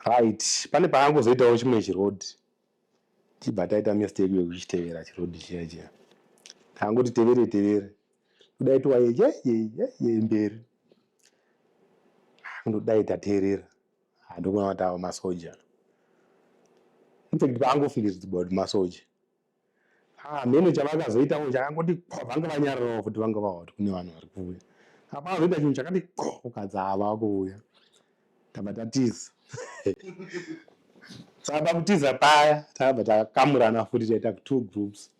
Right pane pakangozoitawo chimwe chiroad tichibva taita mistake yekuchitevera chiroad chiya chiya takangoti tevere tevere kudai tiwaye yeyeyeye mberi ndodai tateerera ndokuona kuti awa masoja infact paangofikidzwa kuti masoja hameno ah, chavakazoitawo chakangoti ko vanga vanyarirawo futi vanga vawa kuti kune vanhu vari kuuya apa azoita chinhu chakati ko ukadzi ava vakuuya taba tatiza saka pakutiza paya takabva takamurana futi taita two groups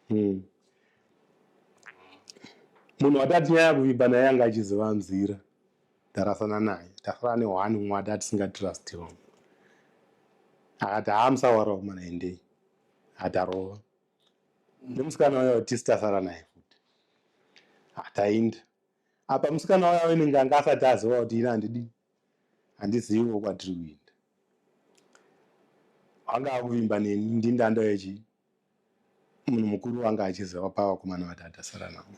hmm. munhu watatinyaya kuvimba naye anga achiziva nzira tarasana naye tasara newani mwati atisingatirustiwa akati haamusawarao mwana endei atarova nemusikana uya watisi tasara naye futi atainda apa musikana uya wenenge anga asati aziva kuti ini handidi handiziviwo kwatiri kuinda anga akuvimba neni ndindanda yechi munhu mukuru anga achiziva pavakomana vatatu asara navo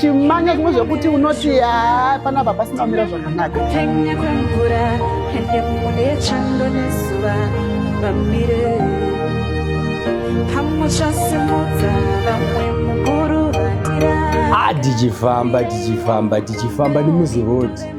chimanya zvimwe zvekuti unoti haa panapa pasina kumira zvakanaka ah, tichifamba tichifamba tichifamba nemuzirodi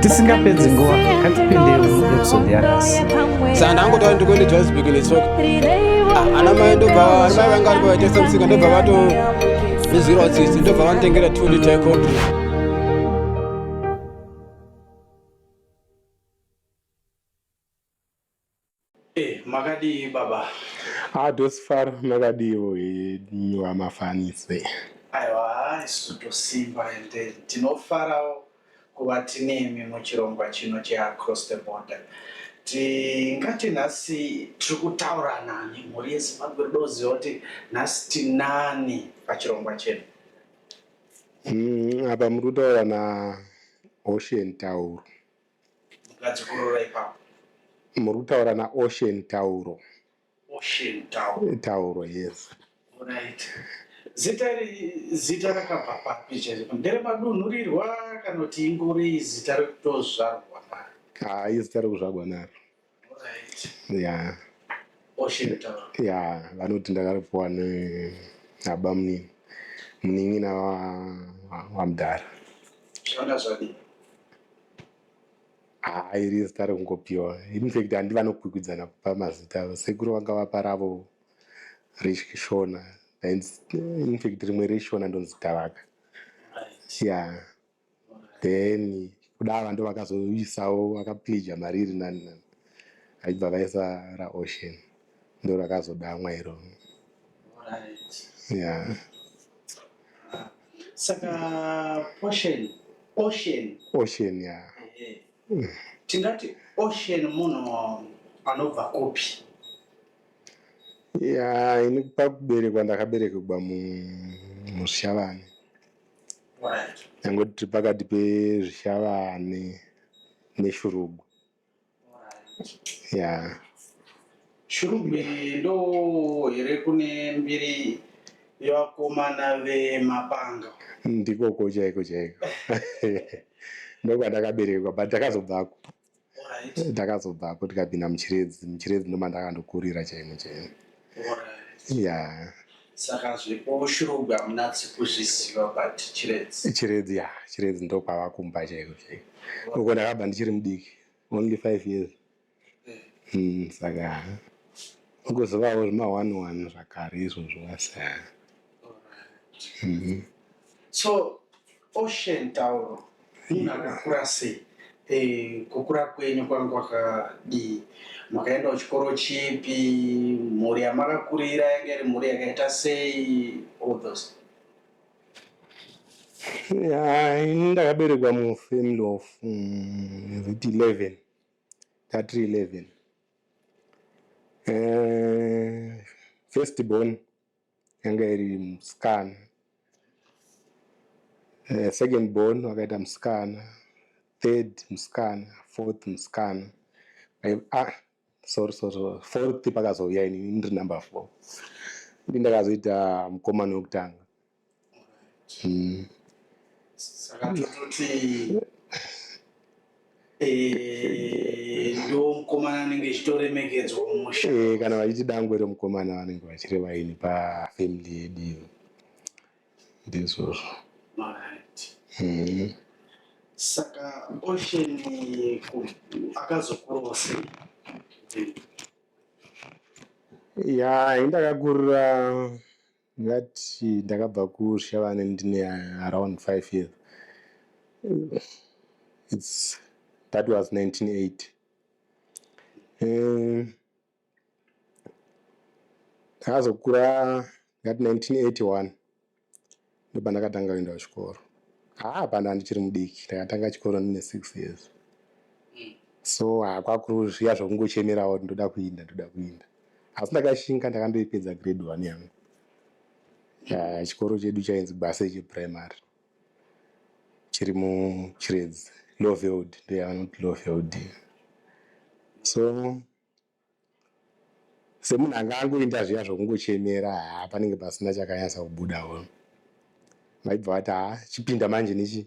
tisingapedzi nguva katipindei episode yanhasi saka ndangotaura ndikuende johannesburg netsoka ah, ana mai ndobva ana mai vanga vari pavaitesa musika ndobva vato izwirawo tsitsi ndobva vanotengera two liter coffee Eh, makadii baba? Ah, Dosifaro makadiiwo henyu vamafanise. Aiwa, isu tosimba ende tinofarawo kuva tinemi muchirongwa chino cheAcross the Border. Tingati nhasi tiri kutaurana nemhuri yeZimbabwe rudo kuziva kuti nhasi tinani pachirongwa chedu. Mm, apa muri kutaura naOcean Tauro. Ngadzikorora ipapo. Muri kutaura na Ocean Tauro. Ocean Tauro. Tauro, yes. Right. Zita iri zita rakabva papi chaizvo? Ndere madunhurirwa kana kuti ingori zita rekutozvarwa naro? Haa izita rekuzvarwa naro. ya ya vanoti ndakaripiwa nabamunini munin'ina wamudhara haa iri zita rekungopiwa infact handi vanokwikwidzana kupa mazita avo sekuru vanga vapa ravo reshona infact rimwe reshona ndonzi tavaka ya yeah. then kuda vantu vakazoisawo vakaplija mari iri nani nani aibva vaisa raocean ndo rakazodamwa iro ya saka ocean ocean ocean ya tingati ocean munhu anobva kupi ya ini pakuberekwa ndakaberekerwa mushavani Tangoti tiri pakati pezvishavane neshurugu. Yeah. Shurugu ndo here kune mbiri yevakomana vemapanga? Ndikoko chaiko chaiko. Ndokwandakaberekwa but ndakazobvako. ndakazobvako tikapinda muchiredzi muchiredzi ndomandakandokurira chaimo chaimo ya saka zvepo shurugwi hamuna dzekuzviziva but chiredzi chiredzi ya chiredzi ndokwava kumba chaiko chaiko uko ndakabva ndichiri mudiki only five years eh. hmm, saka ugozovawo zvima one one zvakare izvozvo wasa mm-hmm. so Ocean tauro munhu akakura sei eh, kukura kwenyu kwanga kwakadii makaendawo chikoro chipi mhuri yamakakurira yanga iri mhuri yakaita sei all those Ya, ini ndakaberekwa mufamily of mm, is it 11 tatiri 11 Eh, first born yanga iri musikana uh, second born wakaita musikana third musikana fourth musikana ah, sorry sorry fourth pakazouya ini ndiri number four ndi ndakazoita mukomana wekutanga Mm. saka tototi eh, ndo mukomana anenge echitoremekedzwa mumusha Eh, kana vachiti dangwe remukomana vanenge vachireva ini pafamily yedu iyo. ndizvozvo Alright. Mm. saka ocean ku- akazokurawo sei ya ini ndakakurira Ndingati ndakabva kuShavane ndine around five years. It's, that was 1980. Um, ndakazokura ngati 1981 ndopandakatanga kuenda kuchikoro haa pano andichiri mudiki ndakatanga chikoro ndine six years so hakwakuru zviya zvokungochemerawo kuti ndoda kuinda ndoda kuinda asi ndakashinga ndakandoipedza grade one yangu ah, chikoro chedu chainzi base cheprimary chiri muchiredzi loveld ndoyavanoti loveld so semunhu anga angoinda zviya zvokungochemera haa panenge pasina chakanyatsa kubudawo maibva vati haa chipinda manje nechi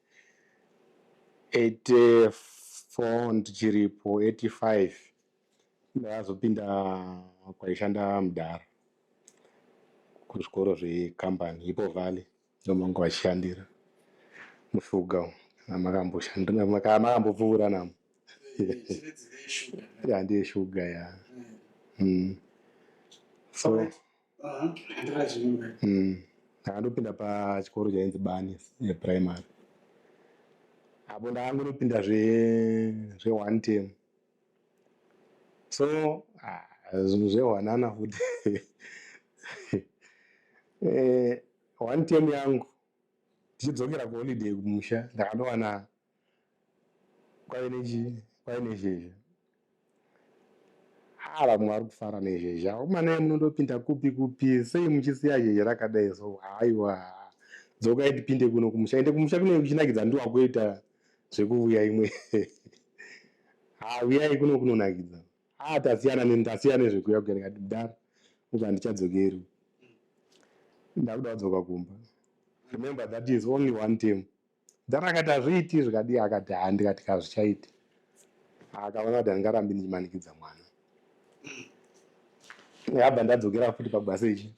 84 ndichiripo 85 ndakazopinda kwaishanda mudhara kuzvikoro zvekambani ipo valley ndomanga vachishandira mushuga makambopfuura namo handeye shuga ya mm. so Mm. Ndakandopinda pachikoro chainzi Bani eh, primary. Apo ndakangonopinda zve zve one term. So ah, zvinhu zvehwanana futi. eh, one term yangu tichidzokera kuholiday kumusha ndakandowana kwave nechii kwave nezhezha haa vamwe vari kufara nezhezha umanai munondopinda kupi kupi sei muchisiya zhezha rakadai so haiwa dzokai tipinde kuno kumusha ende kumusha kunenge kuchinakidza ndiwa kuita zvekuvuya imwe haa vuyai kuno kunonakidza haa tasiyana ndasiyana nezvekuya kuya ndikati mdara uka handichadzokeri ndakuda kudzoka kumba remember that is only one time Then akati hazviiti zvikadii akati haa ndikati kazvichaiti akaona kuti handingarambi ndichimanikidza mwana yabva ndadzokera futi pabasa ichi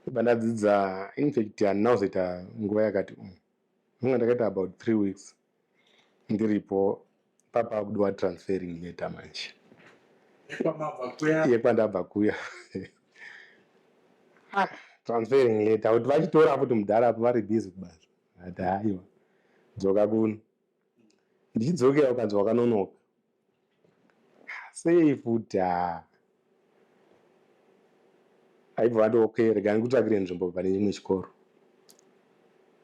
ibva ndadzidza infact handina kuzoita nguva yakati um nonga ndakaita about three weeks ndiripo papakudiwa transferring leta manje yekwandabva kuya ah, transferring leta kuti vachitora futi mudhara apo vari busy kubasa ati haiwa dzoka kuno ndichidzokera ukanzi wakanonoka Sei futi haa. Aibva ati okay rega ndikutsvakire nzvimbo pane chimwe chikoro.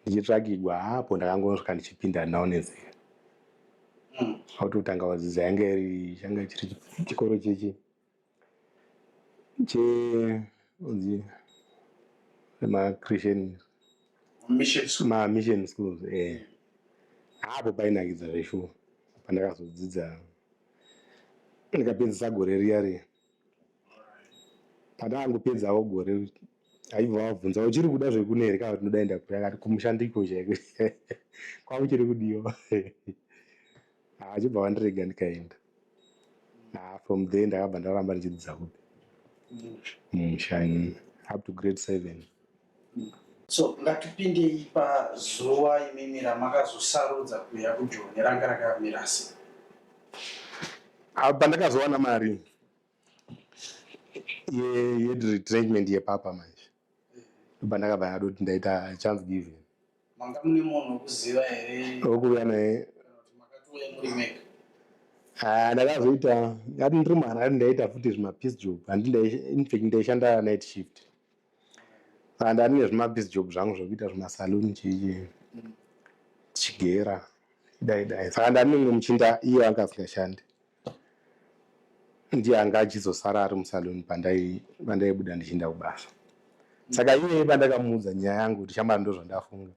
Ndichitsvakigwa apo ndakangonosvika ndichipinda now nenzira. Kwakutotanga kudzidza yanga iri changa chiri chikoro chechi. che onzi ma christian ma mission schools eh hapo painakidza zveshuwa pandakazodzidza ndikapedzisa gore riya riya pandakangopedzawo gore aibva wabvunza uchiri kuda zvekune here kana kuti ndodaenda kuri akati kumushandiko chaiko kwauchiri kudiwa Ah, achibva vandirega ndikaenda ah, from there ndakabva ndaramba ndichidzidza kupi mumusha mm, up to grade seven so ngatipindei pazuva imimi ramakazosarudza kuuya kujoni ranga rakamira sei apa ndakazowana mari ye- yeretirement yepapa manje ndobva ndakabva ndadoti ndaita chance given Manga mune munhu wekuziva here? Wekuuya naye. Kana kuti makatouya muri mega? Ah, ndakazoita ngati ndiri mwana ngati ndaita futi zvimapeace job handi infact ndaishanda night shift and ah, andine zvimapeace job zvangu zvekuita zvimasaloon chichi tichigera dai dai saka ndandimwe muchinda iye anga asingashandi ndiye anga achizosara ari musaluni pandaibuda ndichiinda kubasa saka iyeye pandakamuudza nyaya yangu kuti shamari ndozvandafunga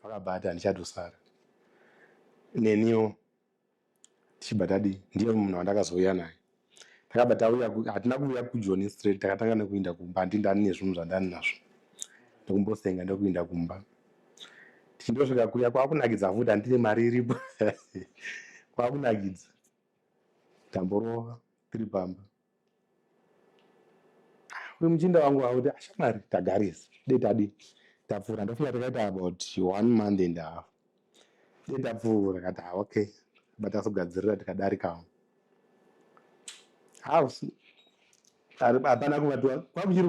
akabva ati handichatosara neniwo tichibva tadii ndiye munhu wandakazouya naye takabva tauya hatina kuuya kujoni straight takatanga nekuinda kumba handindani nezvinhu zvandani nazvo ndokumbosenga ndokuinda kumba tichindosvika kuya kwakunakidza futi handine mari iripo kwakunakidza tamborova tiri pamba uyu muchinda wangu wakuti ashamwari ah, tagarisa dei tadi tapfuura ndofika takaita about one month and half dei tapfuura kati ha ah, okay batasogadzirira tikadarikawo house hapana kuva kwakuchiri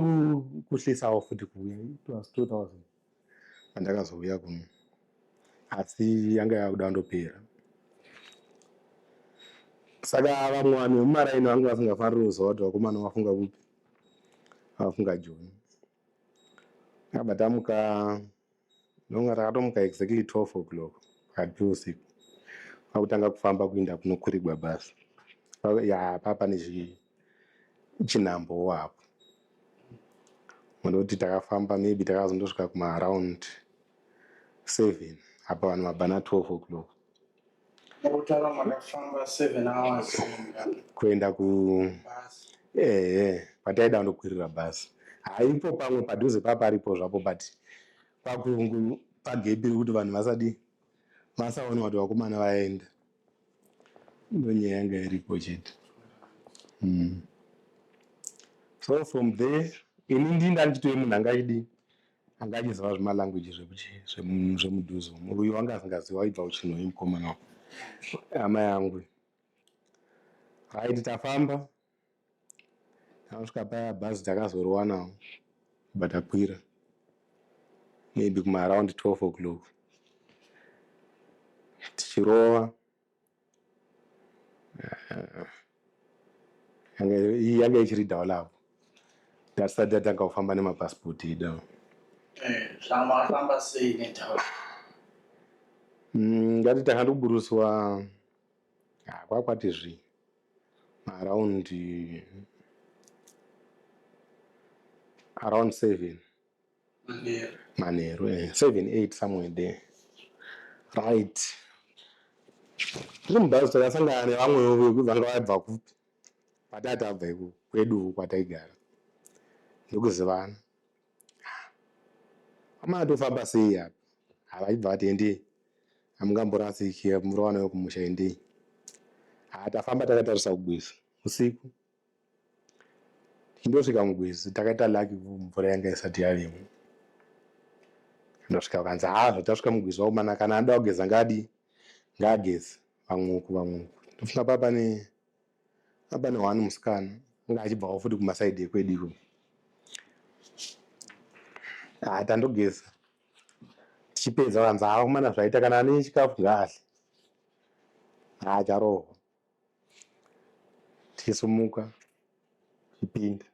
kuhlisawo futi kuuya it was 2000 andakazouya kuno asi yanga yakuda kundopera saka vamwe vanhu vemumaraini vanga vasingafaniri kuziva kuti vakomana vafunga kupi vafunga joni abva tamuka nonga takatomuka exactly 12 o'clock pakati peusiku akutanga kufamba kuinda kunokurigwa basa ya papa nezvii Chinhambo wapo. Munoti takafamba maybe takazondosvika kuma around 7 apa vanhu mabana 12 o'clock. Mokutara makafamba 7 hours kuenda ku eh pataida ndokwirira bus. Haipo pamwe padhuze paparipo zvapo but pakungu pagepi kuti vanhu vasadi masaona kuti vakomana vaenda. ndonyaya yanga iripo chete mm. so from there ini ndii ndanditoe munhu anga achidi anga achiziva zvemalanguage zvemudhuzo munhu uyo wanga asingazivi waibva uchinhoi mukomana hama yangu haiti tafamba Tanosvika paya bhazi takazoriwanawo kubva takwira maybe kumaaround 12 o'clock tichirova eh, iyi yanga ichiri dhawo lavo tatisati tatanga kufamba nemapasipoti edu eh, zvamafamba sei nedhawo mm, ngati takandikuburuswa ah, kwakwati zvii around around seven manheru eh, seven eight somewhere there right tiri mubhazi takasangana nevamwewo vekuti vanga vabva kupi kwatati abva iko kwedu kwataigara ndokuzivana amai atofamba sei apa havaibva vati endei hamungamborasiki murowana wekumusha endei haa tafamba takatarisa kugwizi usiku tichindosvika mugwizi takaita laki mvura yanga isati yavemo ndosvika vakanzi haa zvatasvika mugwizi wakomana kana anoda kugeza ngaadii ngaagezi vamweuku vamweuku ndofunga papa ne Apana one musikana anga achibvawo futi kumasaidi ekwedu iko. Ah, tandogeza tichipedza vanzi hava kumana zvaita kana ane chikafu ngaahle. Ah, charohwa tichisimuka tichipinda.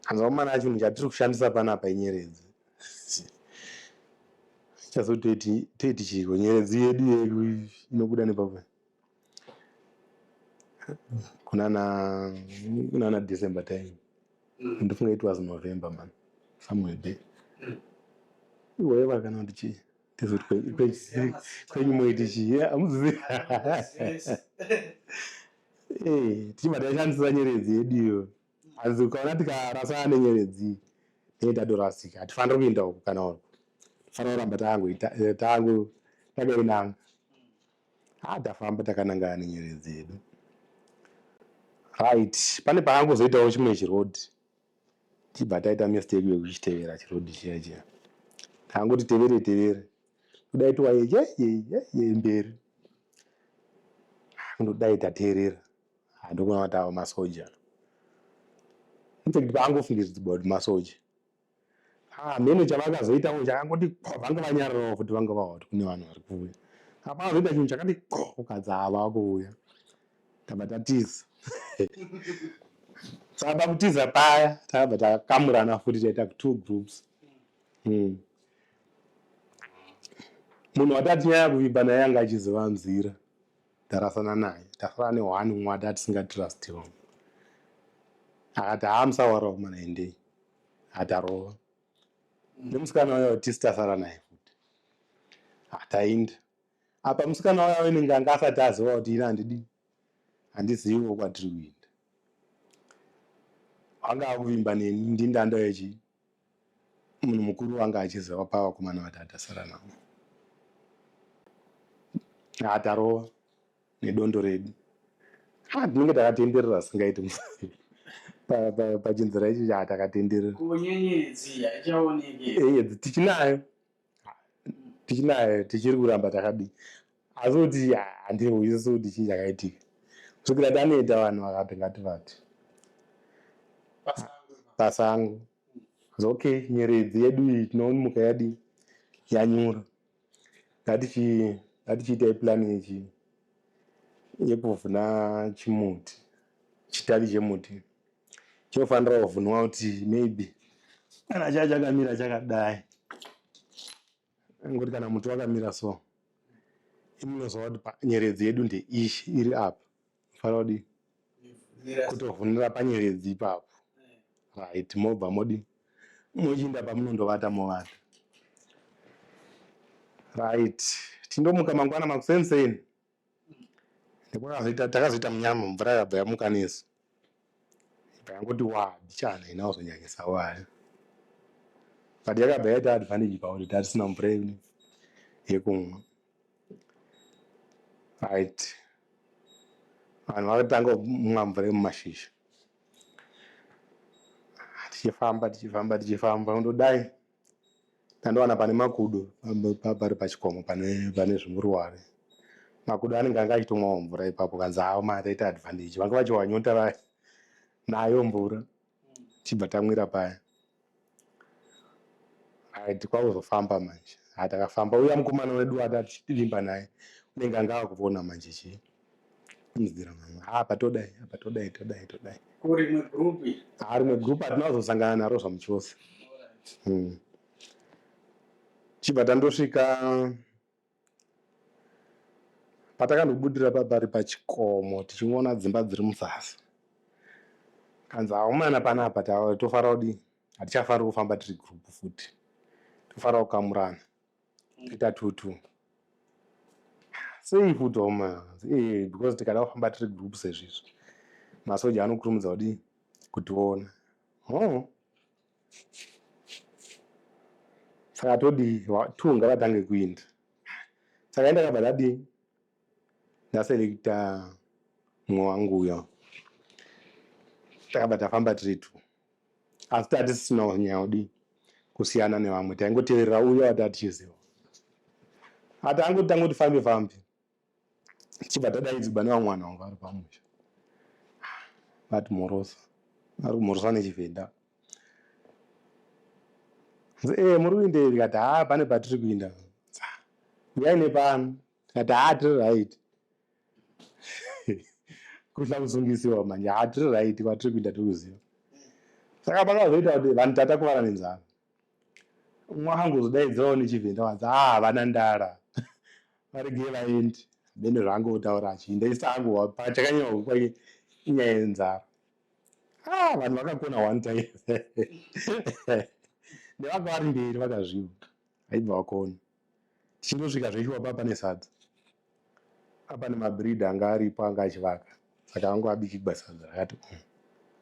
hanzi vakomana chinhu chatiri kushandisa panapa inyeredzi chaso toiti toiti chiko nyeredzi yedu yedu inobuda nepapa kunana kunana december time mm. ndifunga it was november man somewhere there mm. iweva kana kuti chii kwenyu moiti chii amuzivi eh, tichibva taishandisa nyeredzi yedu iyo hanzi ukaona tikarasana nenyeredzi tee tadorasika hatifaniri kuinda uku kana uku tifanira kuramba tangu takainanga ha tafamba takanangana nenyeredzi yedu right pane pakangozoitawo chimwe chirodi tichibva taita mistake yekuchitevera chirodhi chiya chiya taangoti tevere tevere kudai tiwaye yeyeyeye mberi kundodai tateerera ndokuona kuti ava masoja infact paangofungidzwa kuti masoja hameno ah, chavakazoitawo chakangoti vanga vanyararawo futi vanga vava kuti kune vanhu vari kuuya apa azoita chinhu chakati ko ukadza ava kuuya tava tatiza tava kutiza paya tava takamurana futi taita two groups hmm. munhu watatinyaya kuvimba naye anga achiziva nzira ndarasana naye tasara nehwani umwe ati atisingatrust vamwe akati haamusawarawo mana endei atarova nemusikana uyo tisi tasara naye futi atainda apa musikana waya wenenge anga asati aziva kuti ini handidi handiziviwo kwatiri kuenda anga akuvimba neni ndindanda yechi munhu mukuru wanga achiziva pavakomana vati atasara navo atarova nedondo redu ha tinenge takatenderera zvisingaiti pachinzira ichi chaa takatenderera nyenyedzi tichinayo tichinaye tichiri kuramba takadii asi kuti handihwisisi kuti chii chakaitika kusvikira taneta vanhu vakati ngati vati basa angu okay nyeredzi yedu iyi tinomuka yadii yanyura ngatichiita ipulani yechi yekuvhuna chimuti chitavi chemuti Chinofanira kuvhunwa kuti maybe kana chaya chakamira chakadai ngokuti kana muti wakamira so imunoziva kuti nyeredzi yedu ndeiyi iri apa fanira kudii kutovhunira panyeredzi ipapo right mobva modi mochiinda pamunondovata movata right tindomuka mangwana makuseni seni Nekwakazoita takazoita munyama mvura yakabva yamuka nesu. Ndakangoti wa bichana ina wazonyanyisa waya. But yakabva yaita advantage pauri tatisina mvura yedu yekumwa. Right. Vanhu vakatanga kumwa mvura yemumashizha. Tichifamba tichifamba tichifamba kundodai Ndandowana pane makudo pari pachikomo pane pane zvimuruware. Makudo anenge anga achitomwawo mvura ipapo kanzi hawo ma right advantage vanga vachiwa nyota vaya nayo mvura chibva tamwira paya. Right kwakuzofamba manje. Ha takafamba uya mukomana wedu ati tichivimba naye unenge anga akuvona manje chii. Mzira mama. Ah, apa todai, apa todai, todai, todai. Kuri mwe group. Ah, rimwe group atinazosangana naro zvamuchose. Mm. Chibva tandosvika patakandobudira papari pachikomo tichingona dzimba dziri muzasi. Kanzi aumana panapa tofara kudii? Hatichafari kufamba tiri group futi. Tofara kukamurana. Kuita tutu. Sei futi homa eh because tikada kufamba tiri group sezvizvi. Masoja anokurumidza kudii kutiona. Oh. Saka todii two ngavatange kuinda. Saka enda kabva tadii. ndaselekta mumwe wangu uyo takabva tafamba tiri two asi taa tisisina kunyanya kudii kusiyana nevamwe taingoteverera uyo wataa tichiziva ati angoti tangoti fambe fambe tichibva tadaidzigwa nevamwe vanhu vangu vari pamusha vati mhorosa ari kumhorosa nechivhenda e eh, muri kuindei ndikati haa pane patiri kuinda uyai nepano tikati haa tiri right kuhla kusungisiwa manje haa tiri right kwatiri kuita tiri kuziva saka pakazoita kuti vanhu tatakuvara nenzara umwe akangozodaidzirawo nechivhenda wanzi haa ah, havana ndara varegei vaendi bene zvangu kutaura achiinda isi angu pachakanyanya kupa inyaya yenzara ah, vanhu vakakona one time nevaka vari mberi vakazviva aibva vakona Tichindosvika zveshuwa papa pane sadza. Apa nemabreed anga aripo anga achivaka saka angu abikigwa sadza rakati umm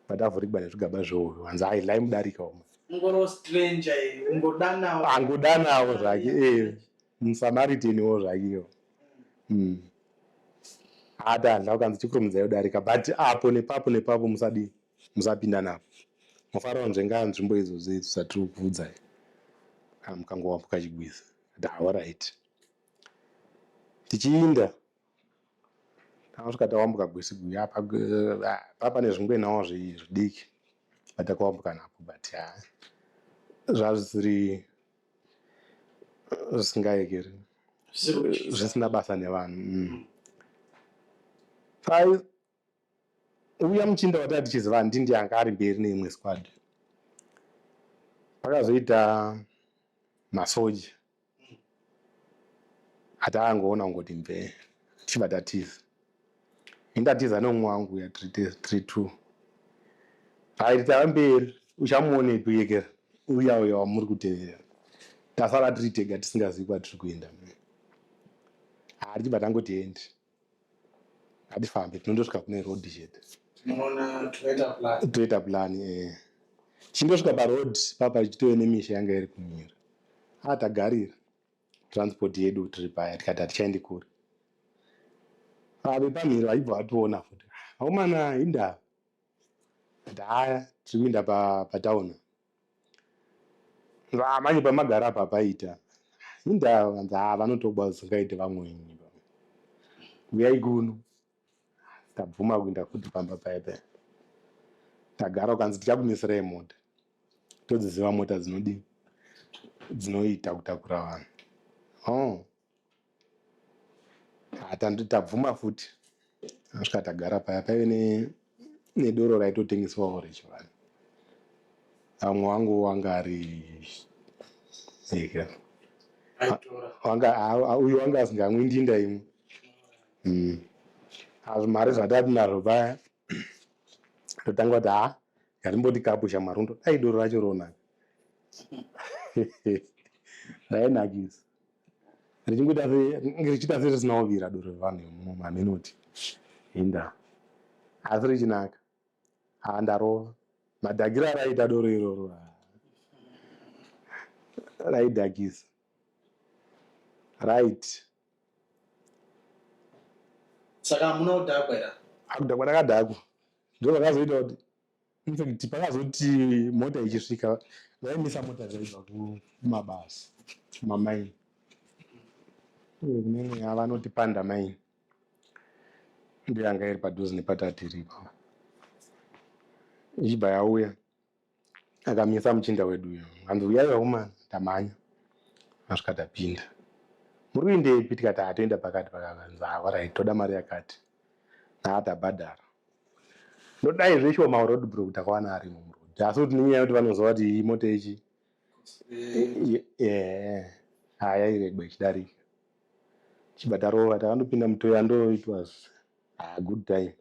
but avhurigwa nezvigaba zveuyu hanzi hai lai mudarika umu. Ungoro stranger iyo ungodanawo. Angodanawo zvake eh muSamaritan wo zvake iyo. Mm. Ata handla ukanzi chipurumudzayo darika but apo nepapo nepapo musadii. Musapinda navo. Mafaro anzve ngaa nzvimbo idzo dze dzatiri kukuudzai. Haa mukangowambuka chigwiza. Ati haa horaiti. Tichiinda takasvika tawambuka Gwesigwi apa ah, pa pane zvingwenawo zvi- zvidiki patakawambuka napo but haa zvazvisiri zvisingaekeri Zvisiri kutyisa. zvisina basa nevanhu mm. Sai- uya muchinda watanga tichiziva handi ndiye anga ari mberi neimwe squad pakazoita masoja ataangoona kungoti mvee tichibva tatiza indatiza neumwe wangu uya three two aiti tava mberi uchamuonepi uyekera uya uya wamuri kutevera tasara tiri tega tisingazivi kwatiri kuenda haa tichibva tangoti endi hatifambe tinondosvika kune road chete Unoona toita plan. toita plan eh. chindosvika paroad papa chitove nemisha yanga iri kumira ah tagarira transport yedu tiri paya tikati hatichaendi kure ah vepamhiri vaibva vationa futi akomana hindava kuti haya tiri kuinda pa, patauna Ndaa manje pamagara apa paita indaa vanzi haa vanotoba zvingaite vamweni uyai kuno tabvuma kuinda futi pamba paya paya tagara ukanzi tichakumisirai mota todziziva mota dzinodii dzinoita kutakura vanhu oh. tabvuma futi asvika tagara paya paive nedoro raitotengeswawo rechivanhu amwe wangu wanga ari uyo wanga asingamwi ndinda imwe hmm. mari zvatati nazvo paya totanga kuti ha yatimboti kapu shamarundo dai doro racho ronaka rainakisa richingoita richiita serisina kuvira doro revanhu vemumo mamenoti hinda asi richinaka haa ndarova madhakiro araiita doro iroro raidhakisa right saka hamuna kudhakwa era akudhakwa ndakadhakwa ndozvakazoita kuti infact pakazoti mota ichisvika vaimisa mota dzaibva kumabasa kumamaini uye kune mweya vanoti panda maini ndiyo yanga iri padhuze nepatatiri ipava ichibva yauya akamisa muchinda wedu uyo hanzi uyai vakomana tamhanya asvika tapinda muri kuindepi tikati atoenda pakati pakavanzi awarahi toda mari yakati naatabhadhara ndodai zveshuwa maroad bro kuti akawana arimo muroad asi kuti nenyaya yekuti vanoziva kuti iyi mota ichi haya iregwa ichidarika chibata rova takandopinda mutoya ndo it was a good time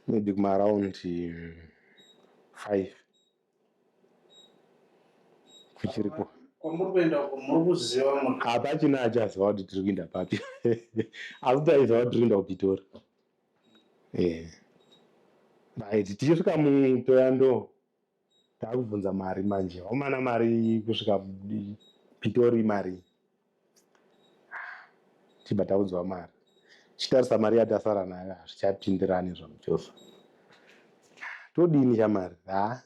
maybe kumaaround mm, five kuchiriko kwamuri kuenda uko muri kuziva hapachina achaziva kuti tiri kuinda papi asi taiziva kuti tiri kuinda kupitori Eh. Right, tichisvika mutoya ndo takubvunza mari manje. Omana mari kusvika mudi- Pitori mari. Tibva taudzwa mari. Chitarisa mari yatasara nayo hazvichapindirani zvamuchofa. Todini chamari? Ha.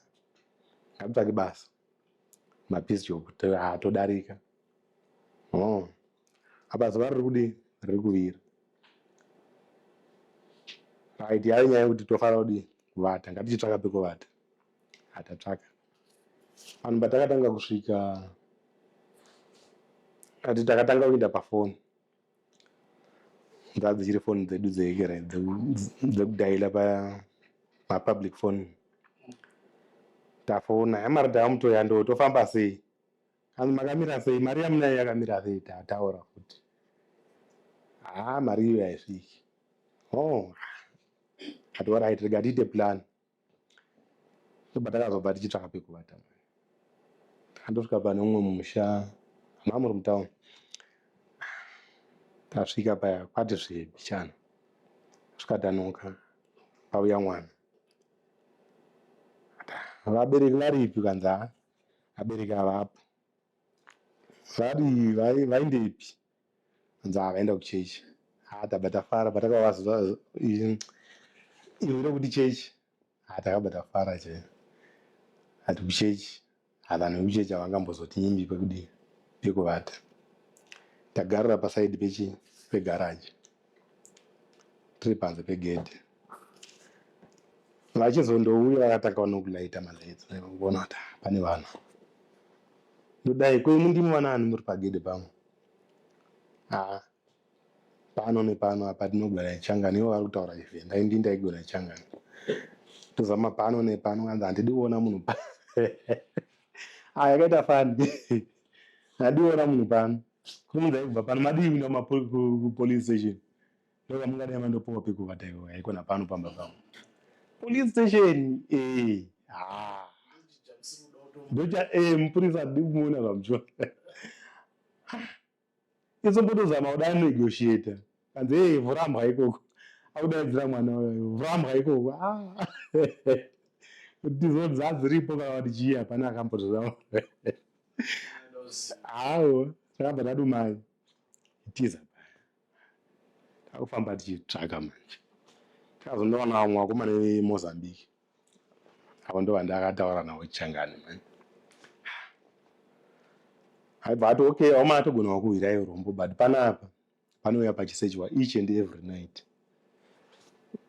Ngabtsvake basa. mabishop todarika oh. apa zuva riri kudii riri kuvira right yayo nyaya yekuti tofanira kudii kuvata ngatichitsvaka pekuvata atatsvaka vanhu patakatanga kusvika kati takatanga kuinda pafoni Ngadzichiri foni dzedu dzehekera dzekudaila pamapublic foni. Tafona yamari tava mutoya ndo tofamba sei? Hanzi makamira sei? Mari yamunayo yakamira sei? Tataura futi. Haa mari iyo haisviki. Oh, ati orait rega tiite plan. ndobva takazobva tichitsvaka pekuvata andosvika pane umwe musha ma muri mutown tasvika paya kwati zvebichana zvikatanuka pauya mwana vabereki varipi kanzi a abereki avapo vari vaindepi hanzi haa vaenda kuchechi haa tabva tafara patakava zuva iri iro rekuti chechi haa takabva tafara chaiyo ati kuchechi haa vanhu vekuchechi havangambozotiimbi pekudii pekuvata tagarira pasaidi pechi pegaraji tiri panze pegedhi vachizondouya vakatanga vanokulayita malights vona kuti ah, pane vanhu ndodai kwemu ndimi vanani muri pagedhi pamwe ah, pano nepano apa tinogona ichangani ivo vari kutaura izvi endai ndi ndaigona ichangani tozama pano nepano kanzi handidi kuona munhu pa ah, yakaita fani handidi kuona munhu pano Kumunzai kubva pano madii kuenda kupolice station ndokamungadai mandopowa pekuvata iwe haikona pano pamba pavo police station eh ha ndocha eh mupurisa adi kumuona pamuchona izombotozama kuda negotiator kanzi hey, vhurambwa ikoko akudaidzira mwana uyoyo vhurambwa ikoko ah. kuti zodza dziripo kavati chii hapana akambozvizama hawo takabva tadumai tiza takufamba tichitsvaka manje tikazonoona vamwe vakomana vemozambique avo ndo vandakataura navo changani manje aibva ati okay vakomana togona wakuhwira iurombo but panapa panouya pachisejwa each and every night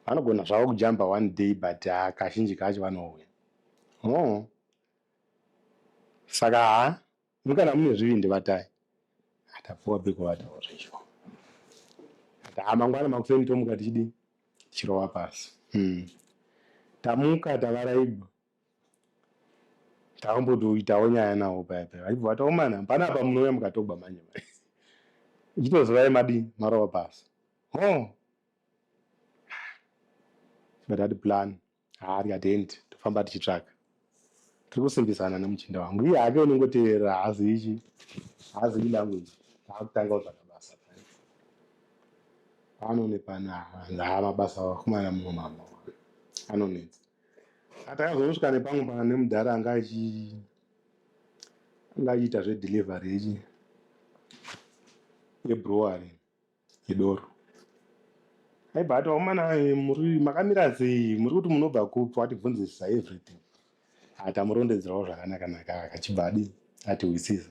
vanogona zvavo kujamba one day but ha kazhinji kacho vanouya ho saka ha mukana mune zvivindi vatai atapuwa pekuvatawo zvecho ati ha mangwana makuseni tomuka tichidii tichirova pasi hmm. tamuka tavaraibwa takambotoitawo nyaya nawo paya paya vachibva vati omana oh, pana apa munouya mukatogwa manje manje ichitozivai madii marova pasi ho oh. tikatati plan haa tikati hendi tofamba tichitsvaka tiri kusimbisana nemuchinda wangu iye hake unongoteerera haazi ichi haazi ilanguage haakutanga kutsvaka basa pano nepana haa mabasa akumana mumwe mama anonetsa Atakazosvika nepamwe pana nemudhara anga achi anga achiita zvedelivery yechi yebrewery yedoro. Aibva ati vakomana eh, muri makamira sei muri kuti munobva kupi watibvunzisisa everything. Ah, Tamurondedzerawo zvakanaka naka akachibva adi atihwisisa.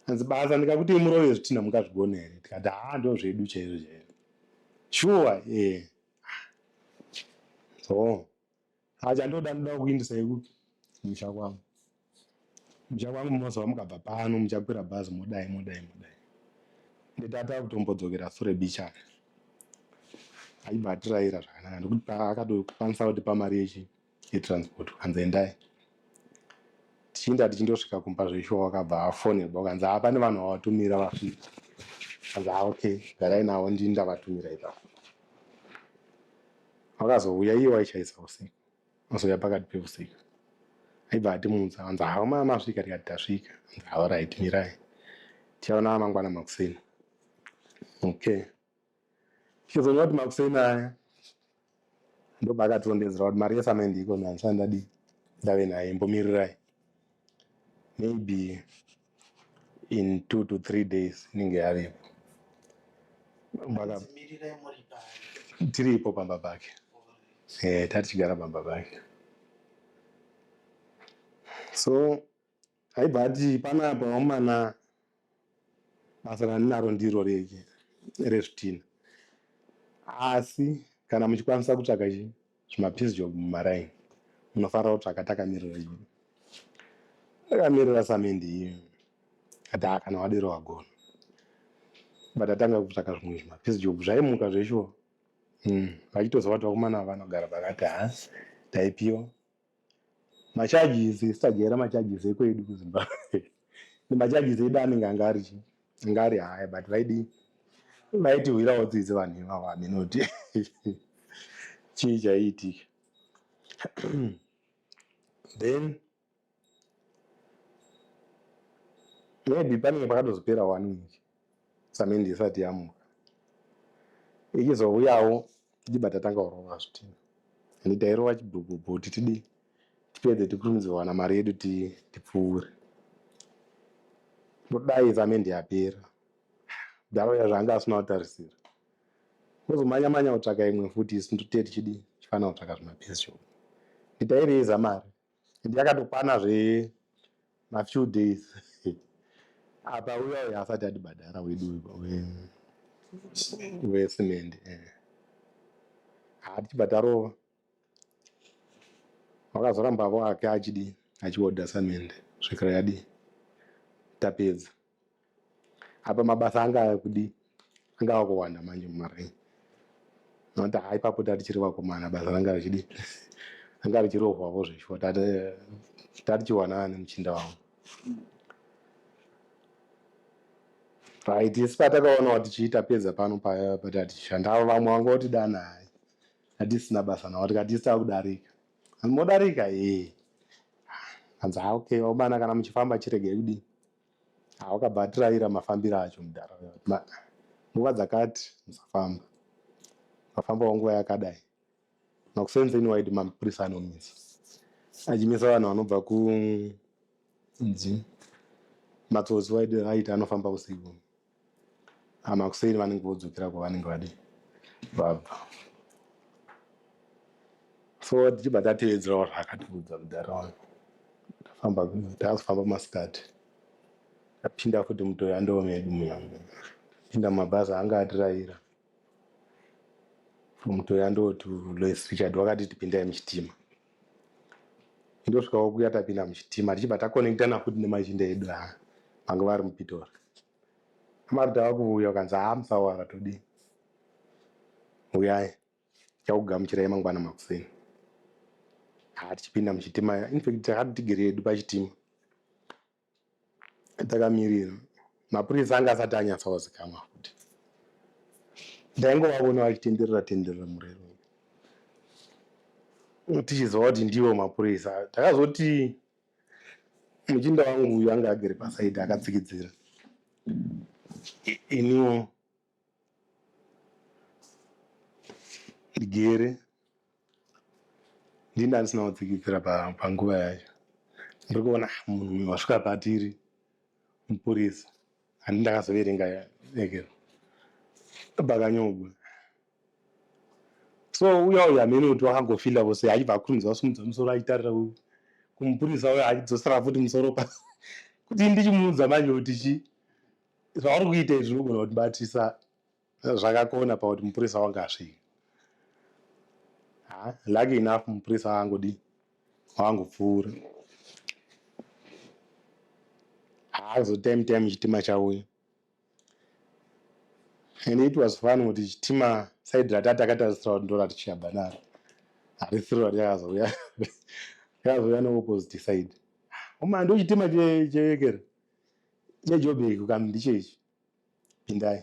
Hanzi basa ndikakuti murove zvitinha mungazvigona here tikati haa ndoo zvedu chaizvo chaizvo. Shuwa eh so acha ndoda ndoda kukuindisa yekupi musha kwangu musha kwangu munoziva mukabva pano muchakwira bhazi modai modai modai nditata kutombodzokera sure bichana aibva atiraira zvakanaka nekuti akatokwanisa kuti pamari yechi yetransport ukanzi endai tichienda tichindosvika kumba zveshuwa wakabva afonerwa ukanzi haa pane vanhu vawatumira vasvika kanzi haa okay garai navo ndini ndavatumira ipapo wakazouya iye waishaisa usiku azouya pakati peusiku aibva atimunza anzi haa maya masvika tikati tasvika anzi haa right mirai tichaona mangwana makuseni okay Chezonga kuti makuseni aya ndopakatondezera kuti mari yesamende iko manje sandadi ndave naye imbomirirai maybe in two to three days inenge yavepo tiripo pamba pake e, tatichigara pamba pake so aibva ati panapa vakomana basa randinaro ndiro rezvitina asi kana muchikwanisa kutsvaka chi zvimapiece job mumaraini munofanira kutsvaka takamirira i takamirira samendi iyo ati ha kana wadero wagona but atanga kutsvaka zvimwe zvimapiece job zvaimuka zveshuwa hmm, vachitozovati vakomana vanogara pakati ha taipiwa macharges sitajaira macharges ekwedu kuzimbabwe nemacharges edu anenge anga ari chii anga ari haya but vaidi vaitihwirawo tsitsi vanhu ivavo aminoti chii chaiitika then maybe panenge pakatozopera wani wiki samende isati yamuka ichizouyawo tichiba tatanga kurova zvitinha ende tairova chibhubhubhu kuti tidii tipedze tikurumidze kuwana mari yedu tipfuure todai samende yapera daro ya zvaanga asina kutarisira ozomanya manya kutsvaka imwe futi isu ndotee tichidii tichifanira kutsvaka zvimapesho nditairei zamari and yakatokwana zve mafew days apa uya uya asati atibhadhara wedu wesimende eh. haa tichibva tarova wakazorambavo ake achidi achiodha samende svikira yadii tapedza apa mabasa anga akudi anga akuwanda manje mumaring noti ha ipapo tatichiri vakomana basa ranga richidi anga richirohwavo zveshuwa tatichiwanana nemuchinda wavo right isi patakaonawo tichiita peza pano paya patiatishandavo vamwe vanga votidana hai atisina basa navo tikati isi takudarika modarika ee hanzi ha okay vakomana kana muchifamba chiregei kudii Ah, wakabva atiraira mafambiro acho mudhara uya. Ma- nguva dzakati musafamba mafambawo nguva yakadai makusenzeni waiti mapurisa anomisa achimisa vanhu vanobva ku nzi matsotsi waiti aiti anofamba usiku Ah, makuseni vanenge vodzokera kwavanenge vadi vabva so tichibva tatevedzerawo zvaakatiudza mudhara wangu tafamba taakufamba masikati tapinda futi mutoyandoo medu muya pinda mumabhazi anga atirayira mutoya ndoti lois richard wakati tipindai muchitima ndosvikawo kuya tapinda muchitima tichibva takonekitana futi nemachinda edu a vanga vari mupitori amari tava kuvuya ukanzi haa musawara todii uyai chakugamuchirai mangwana makuseni haa tichipinda muchitima infact takati tigere yedu pachitima takamirira mapurisa anga asati anyatsaozikamwa futi ndaingovavona vachitenderera tenderera murero tichiziva kuti ndivo mapurisa takazoti muchinda wangu uyu anga agere pasaidi akatsikidzira iniwo ndigere ndini ndandisina kutsikitsira panguva yacho ndiri kuona ah, munhu uyu wasvika patiri mupurisa handi ndakazoverenga eke pakanyogwa so uya uya amene kuti wakangofila vose achibva akurumidza kusumudza musoro achitarira uyu kumupurisa uyo achidzosera futi musoro pasi kuti ndichimuudza manje kuti chii zvavari kuita izvi zvinogona kutibatisa zvakakona pakuti mupurisa wange asvika ah, lucky enough mupurisa wangodi wangopfuura haazo time time chitima chauya and it was fun kuti chitima saidi rati atakatarisira kuti ndorati chiyabva naro harisiro rati yakazouya yakazouya neopposite side uma ndochitima chevekera Chejobheki ukanzi ndicho ichi pindai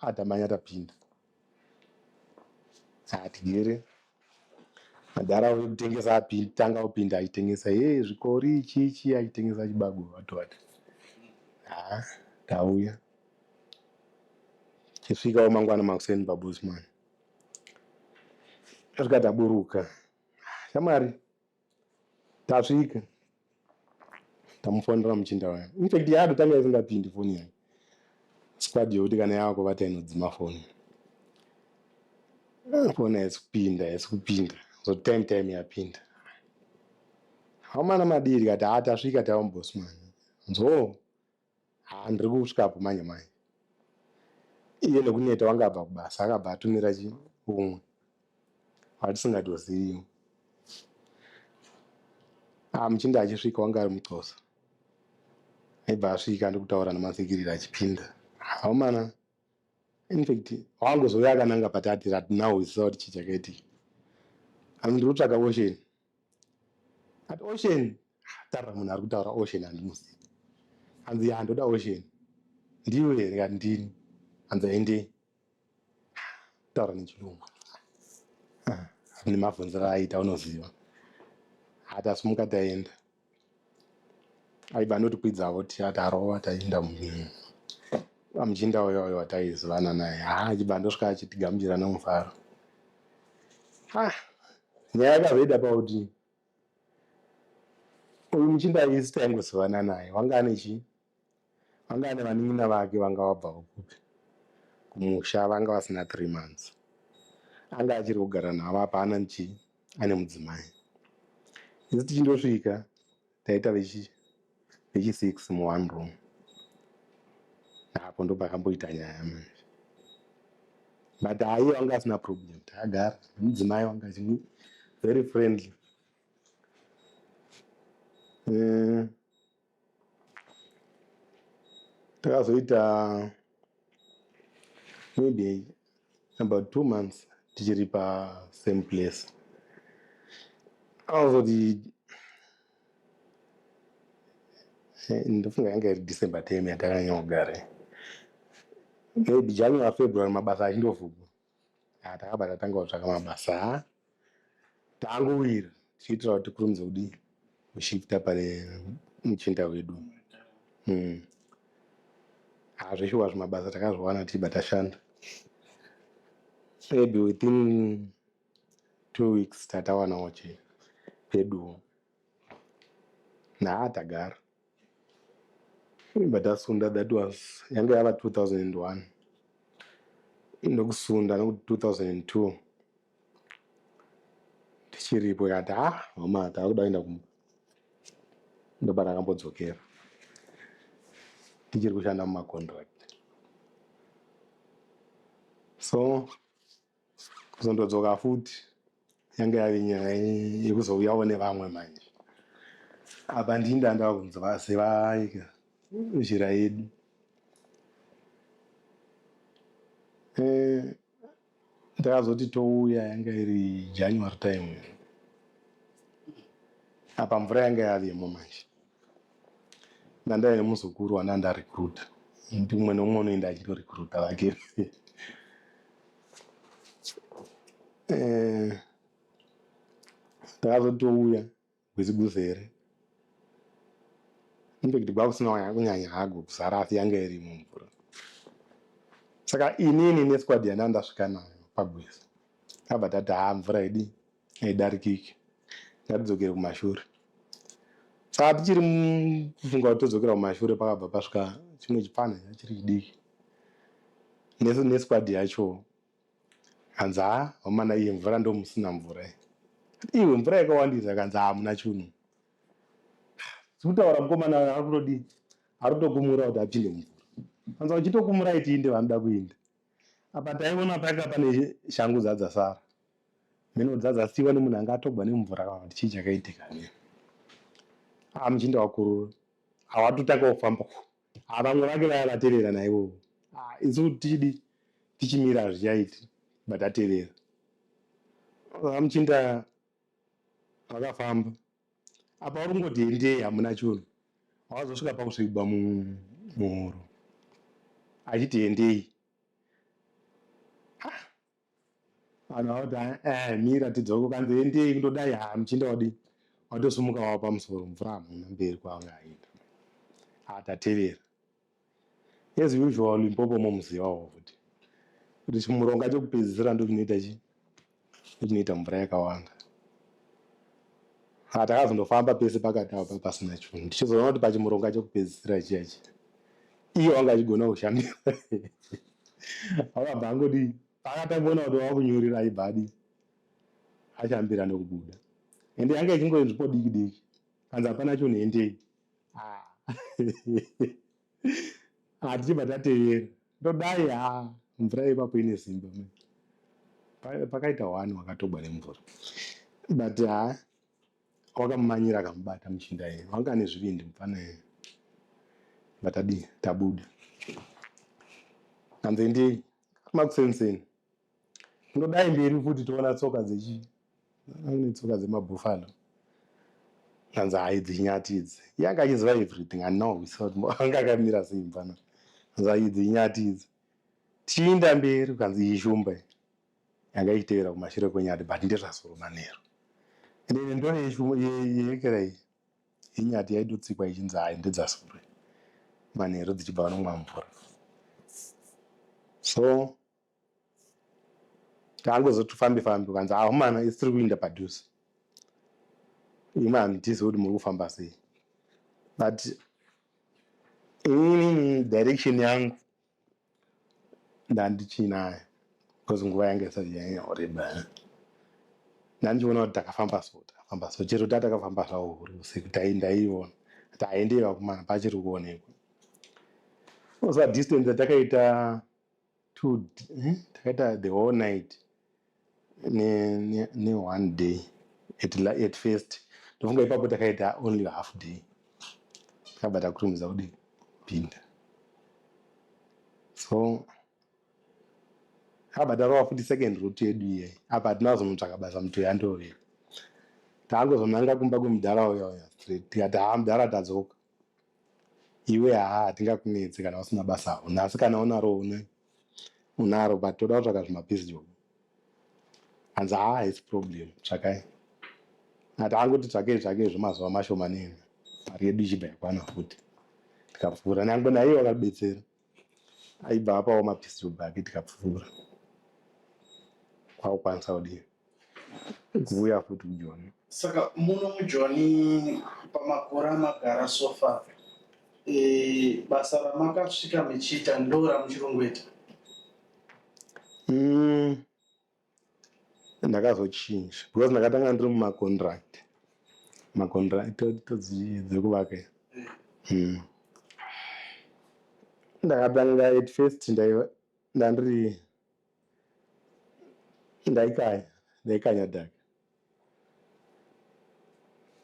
atamanya tapinda hatigere madhara auye kutengesa apinda tanga opinda achitengesa ye zvikori ichi ichi achitengesa chibago vatovati ha tauya chisvikawo mangwana makuseni pabosman tasvika taburuka shamwari tasvika tamufonera muchinda waya infact yado tanga isingapindi foni yayo squad yokuti kana yava kuvata inodzima foni foni haisi kupinda haisi kupinda so time time yapinda hamana madii tikati ha tasvika tava mubosman nzoo Haa ndiri kusvika apo manje manje. Iye nekuneta wanga abva kubasa akabva atumira chi umwe watisingatozivi. Ah muchinda achisvika wanga ari muxosa. Aibva asvika ndokutaura namatsikirira achipinda. Haumana in fact wangozouya akananga patati rat now we saw kuti chii chakaitika. Ami ndiri kutsvaka ocean. At ocean tarira munhu ari kutaura ocean handimusi hanzi ya ndoda ocean ndiwe here kati ndini hanzi aende taura nechirungu ah, nemavhunzira aita unoziva hati asimuka taenda aiva anotikwidzawo tiya tarova taienda mumhiri amuchinda uya uya wataizivana naye haa achibva andosvika achitigamuchira nomufaro ah nyaya yakazoita pakuti uyu muchinda isi taingozivana naye wanga ane chii Vanga ane vanin'ina vake vanga vabvawo kupi kumusha vanga vasina three months anga achiri kugara navo apa hana nchi ane mudzimai isu tichindosvika taita vechi vechi six mu one room apo ndopakamboita nyaya manje but aiye wanga asina problem takagara nemudzimai wanga achini very friendly uh, takazoita maybe about two months tichiri pasame place akazoti eh, ndofunga yanga iri december time yatakanyogare maybe january february mabasa achindovhurwa Ah, takabva tatanga kutsvaka mabasa ah, tangowira tichiitira kuti tikurumidze kudii kushifta pane muchinda wedu mm. ah, zveshuwa zvimabasa takazviwana tichibva tashanda maybe within two weeks tatawanawo che peduwo Nhaa tagara. Imba tasunda that was yanga yava 2001. Ndokusunda nokuti 2002 tichiripo ikati ah hama takuda kuenda kumba. Ndopatakambodzokera tichiri kushanda mumacontract. So kuzondodzoka futi yange yave nyaya yekuzouyawo nevamwe manje apa ndini ndandava kunzi vazivaika zhira yedu eh, ndakazoti touya yanga iri january time apa mvura yanga yavemo manje Nandaya nemuzukuru wana nda recruiter ndi umwe neumwe unoenda achito recruiter vake eh, takazotouya gwezi guzere impact gwakusina kunyanya hago kuzara asi yanga iri mumvura saka inini nesquad yana ndasvika nayo pagwezi abva tati haa mvura idii haidarikiki ngatidzokere kumashure saka tichiri kufunga kuti todzokera kumashure pakabva pasvika chimwe chipfanha chachiri chidiki nesquad yacho hanzi ha vamana iye mvura ndomusina mvura iwe mvura yakawandisa kanzi hamuna chunu sikutaura mukomana ari kutodii ari kutokumura kuti apinde mumvura anza uchitokumura itiinde vanoda kuinda Apa taiona panga pane shangu dzadzasara mheno dzadzasiwa nemunhu anga atogwa nemvura kana kuti chii chakaitika ne aa muchinda wakurura awatotanga kufamba aa vamwe vake vaya vatevera naivovo aa isu kuti tichidi tichimira hazvichaiti but atevera aa muchinda pakafamba apa uri kungoti endei hamuna chunhu awazosvika pakusvigwa muhoro achiti endei vanhu vakuti eh, eh, mira tidzoke kanzi endei kundodai ha muchinda wadi watosumuka wava pamusoro mvura hamuna mberi kwaanga aenda atatevera As usual Limpopo momuzivawo futi kuti chimuronga chekupedzisira ndochinoita chi ndochinoita mvura yakawanda. Ha takazondofamba pese pakati apa pasina chinhu ndichizoona kuti pachimuronga chekupedzisira chiya chiya iye wanga achigona kushandira akabva angodi paakatangoona kuti wakunyurira aibva adi achambira nekubuda ende yanga ichingoenzvipo diki diki kanzi hapana chunhu endei ah, tichibva tatevera ndodai ha ah, mvura yepapo ine simba pakaita wani wakatogwa nemvura but ha ah, wakamumanyira akamubata muchinda yeye wanga ane zvivindi mupfana yeye vatadii tabuda kanzi ndi makusenseni Ndodai mberi futi toona tsoka dzechi ane tsoka dzemabuffalo anzi hayi dzinyati idzi iye anga achiziva everything ano anga akamira sei mfana anzi hayi dzinyati idzi tichiinda mberi ukanzi iyi shumba yanga ichitevera kumashure kwenyati but ndezvasoro manheru ende ine ndore yekera iyi yenyati yaitotsikwa ichinzi hayi ndedzasoro manheru dzichibva vanomwa mvura so Taangozoti tufambe fambe ukanzi akomana isi tiri kuinda padhuze. Imwe handitize kuti muri kufamba sei. But inini direction yangu ndandichinayo because nguva yange isati yanyanya kureba. Ndandichiona kuti takafamba so takafamba so chero tatakafamba zvawo huri usiku taindaiona kuti haendei vakomana pachiri kuonekwa. Osa distance yatakaita two eh, takaita the whole night ne, ne, ne one day at, la, at first ndofunga ipapo takaita only half day takabva takutomuza kudii pinda so akabva tarova futi second route yedu iyeyi apa hatina kuzonotsvaka basa muto yandoveka taangozonanga kumba kwemudhara uya uya straight tikati haa mudhara tadzoka iwe haa hatingakunetsi kana usina basa hauna asi kana unaro une unaro but toda kutsvaka zvimapisjob hanzi haa haisi problem tsvakai ati angoti tsvakei tsvakei zvemazuva mashoma neni mari yedu ichibva yakwana futi tikapfuura nyangwe naiye wakabetsera aibva apawo mapistol bhaki tikapfuura kwakukwanisa kudii kuuya futi kujoni saka muno mujoni pamakore amagara sofa e, basa ramakasvika mechiita ndo ramuchirongweta mm. ndakazochinja because ndakatanga ndiri mumacontract macontract dzekuvaka hmm. ndakatanga at first ndandiri ndaikanya ndaikanya dhaka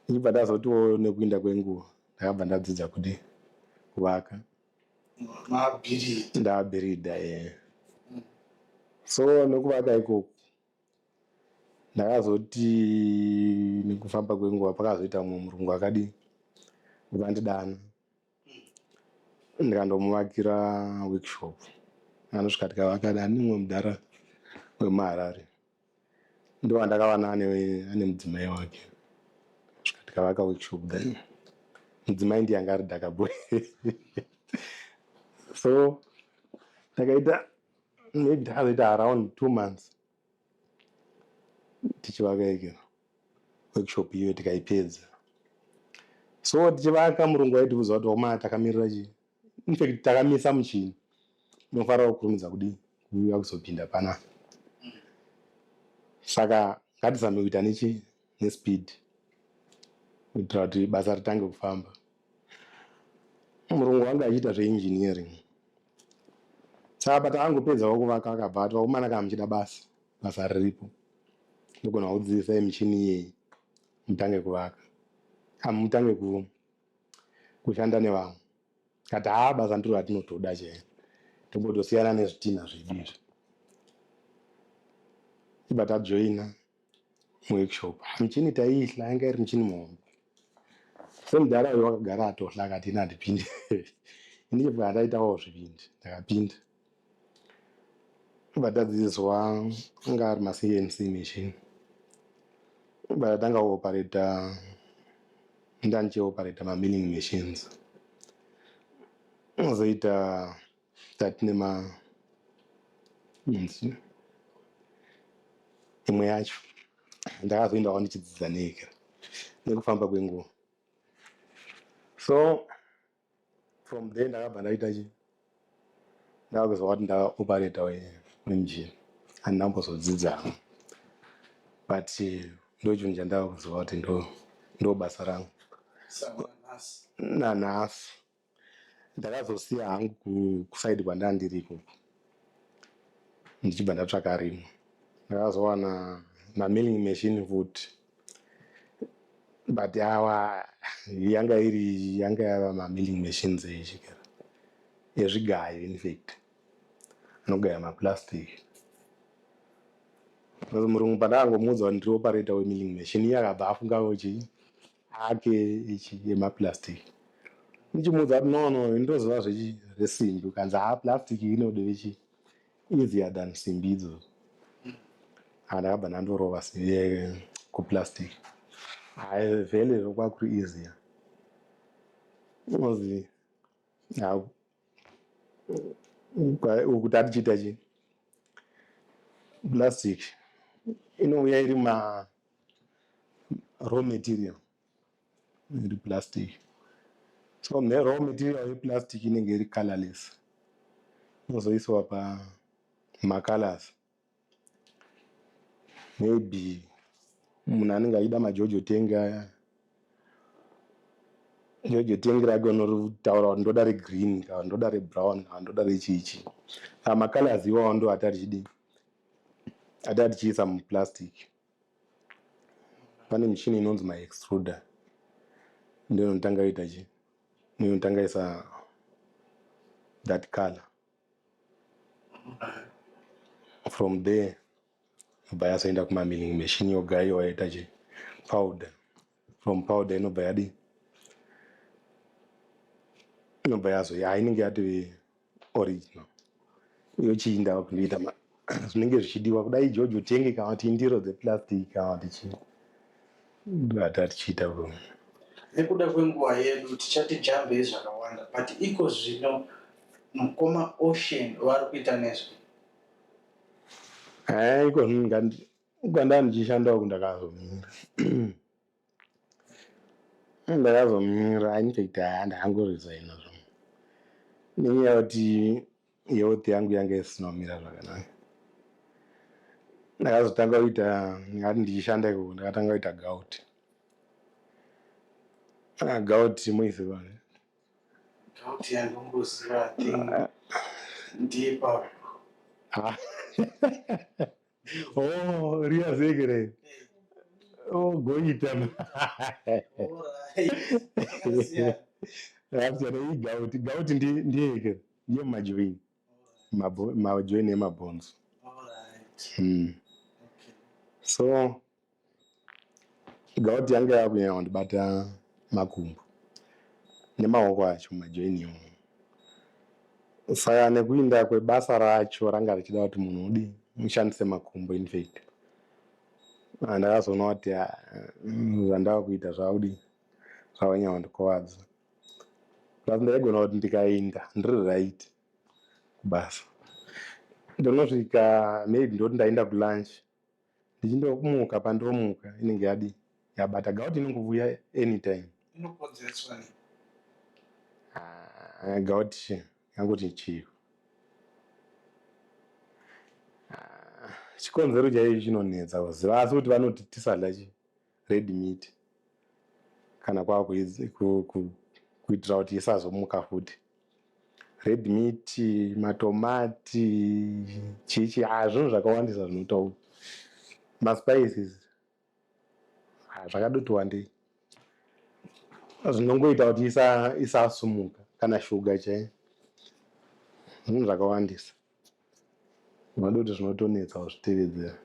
ndichibva ndazotiwo nekuinda kwenguva ndakabva ndadzidza kuti kuvaka ndabhiridha e eh. so nekuvaka ikoku ndakazoti nekufamba kwenguva pakazoita mumwe murungu akadii ukandidana ndikandomuvakira workshop anosvika tikavaka ane mumwe mudhara wemuharare ndovandakavana ane mudzimai wake svika tikavaka workshop then mudzimai ndiye anga ari dhaka boy so takaita maybe takazoita around two months tichivaka ikero workshop iyoyo tikaipedza so tichivaka murungu waitiudza kuti oma takamirira chii infact takamisa muchini unofanira kukurumidza kudii kuuya kuzopinda panapa saka ngatizame kuita nechii nespeed kuitira kuti basa ritange kufamba Murungu wanga achiita zveengineering saka but angopedzawo kuvaka akabva ati vakomana kana muchida basa basa riripo ndogona kudzidzisai michini iyeyi mutange kuvaka amutange ku kushanda nevamwe kati haa basa ndiro ratinotoda chaiyo tombotosiyana nezvitinha zvedu izvi iba tajoina muworkshop michini taiihla yanga iri michini muhombe semudhara uyo wakagara atohla akati ini handipindi ini chibva ndaitawo zvipindi ndakapinda ibva tadzidziswa anga ari macnc machine ibva tatanga kuopareta ndandichiopareta mamining machines unozoita that nema inzi imwe yacho ndakazoendawo ndichidzidza neyekera nekufamba kwenguva so from there ndakabva ndaita chi ndakakuzwa kuti ndakaoperata wenjini handinambozodzidza but ndochinhu chandakakuziva kuti ndo ndobasa rangu nanhasi Ndakazosiya hangu kuside kwandanga ndiri ikoko ndichibva ndatsvaka rimwe. Ndakazowana mamilling machine futi but awa yanga iri yanga yava mamilling machines echikera ezvigayo infact anogaya maplastic. Murungu pandakangomuudza kuti ndiri operator wemilling machine iye akabva afunga kuti chii hake ichi yemaplastic ndichimuudza kuti no no ndinoziva zvechi- zvesimbi ukanzi haa plastic inode vechi easier than simbi idzo Ah, ndakabva ndandorova si- eh, kuplastic hayi vhele kwakuti easier unonzi ah, kwa- ukuti atichiita chi plastic inouya iri ma raw material iri plastic so ne raw material yeplastic inenge iri colorless inozoiswa pamacolors maybe munhu anenge achida majojo tengi aya jojo tengi rake unotaura kuti ndoda regreen kana ndoda rebrown kana ndoda rechichi amacolors iwawo ndo atarichidii Ati atichiisa muplastic pane michini inonzi maextruder ndiyo inotanga yoita chi ndiyo inotanga isa that color from there bva yazoenda kumamilling machine yogayiwa yoita chi powder from powder inobva yadii inobva yazoya ah, inenge yatove original yochiinda vakundoita zvinenge zvichidiwa kudai george utenge kana kuti indiro dzeplastic kana kuti chii ndata tichiita nekuda kwenguva yedu tichati jambei zvakawanda but iko zvino mukoma ocean vari kuita nezve eh, iko Uku ndanga ndichishanda uku ndakazomira. Ndakazomira I need to ita handi hangu resign zvo. Nenyaya yekuti health yangu yanga isina kumira zvakanaka. Ndakazotanga kuita ndingati ndichishanda ikoko ndakatanga kuita gout. Ah, gout moiziva ne? Kuti yandomboziva thing ndipa Ah. Oh, Ria Zegere. Oh, Goita. Rapsana iyi gauti. Gauti ndiye yekere. Ndiye majoini. Majoini emabhonzo. Hmm. So, Gout yanga yakunyanya kundibata makumbo nemaoko acho majoin iwo saka nekuinda kwebasa racho ranga richida kuti munhu udi mushandise makumbo infact ah, ndakazoona kuti ah, mm, zvandava kuita zvaudi zvavanyanya kundikuvadza plus ndaigona kuti ndikainda ndiri right kubasa ndonosvika maybe ndoti ndainda kulunch ndichindokumuka pandomuka inenge yadi yabata gout inongovuya anytime ah, gout yangoti chii ah, chikonzero chaichi chinonetsa kuziva asi kuti vanoti tisadla chii red meat kana kwava kuitira kuti isazomuka futi red meat matomati chichi ah, zvinhu zvakawandisa zvinotaura maspices ah, zvakadoti wandei zvinongoita kuti isasumuka kana shuga chaiyo zvinhu zvakawandisa unoda kuti zvinotonetsa wazvitevedzera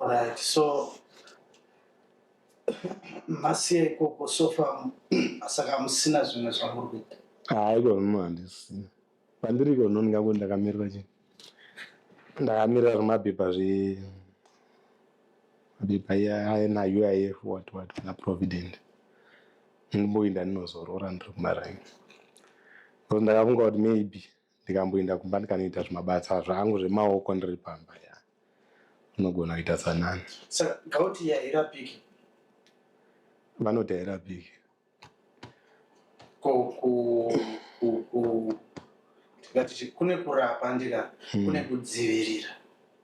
right so masiya ikoko sofa saka musina zvimwe zvamuri kuita haiko zvino handisina pandiriko zvino ndingakuti ndakamirira chii ndakamirira zvemapepa zve mapepa iya aena uif what what naprovident ndimboinda ndinozorora ndiri kumaraini because ndakafunga kuti maybe ndikamboinda kumba ndikanoita zvimabasa zvangu zvemaoko ndiri pamba ya unogona kuita sanani saka gauti yairapiki vanoti hairapiki ko ku ku- ku- tingati chi- kune kurapa ndira kune kudzivirira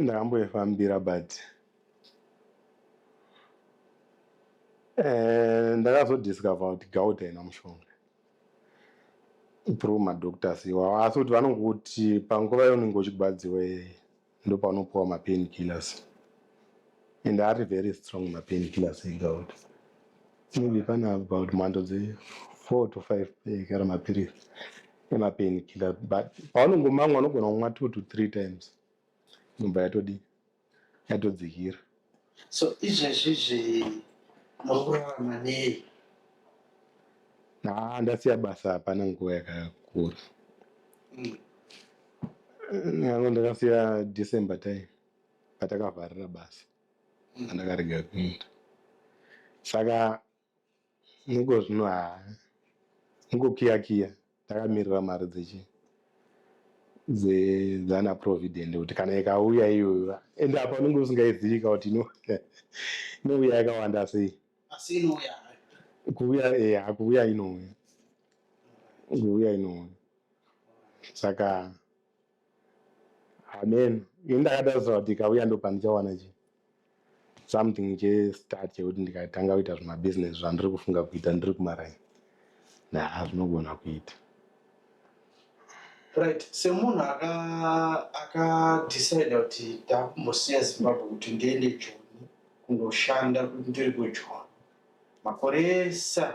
ndakamboifambira but eh, ndakazodiscover kuti gauta ina mushonga through madoctors iwawo asi kuti vanongokuti panguva yaunenge uchigwadziwa iyeye ndopaunopiwa mapain killers and ari very strong mapain killers egauta maybe pane about mhando dze four to five ekara mapiritsi emapain killer but paunongomamwa unogona kumwa two to three times inobva yatodii yatodzikira so izvezvizvi muri kurarama nei haa ndasiya basa hapana nguva yakakura mm. yangu ndakasiya december time patakavharira basa ndakarega kuenda saka muko zvino haa mukokiya kiya ndakamirira mari dzechi dzana provident kuti kana ikauya iyoyo and apa unenge usingaizivika kuti ino inouya yakawanda sei asi inouya kuuya eh akuuya inouya kuuya inouya saka amen ini ndakatarisira kuti ikauya ndo pandichawana chi something chestart chekuti ndikatanga kuita zvimabusiness zvandiri kufunga kuita ndiri kumaraini naa zvinogona kuita right semunhu akadecide aka kuti ndakumbosiya zimbabwe kuti ndiende joni kundoshanda ndiri kujoni makore esa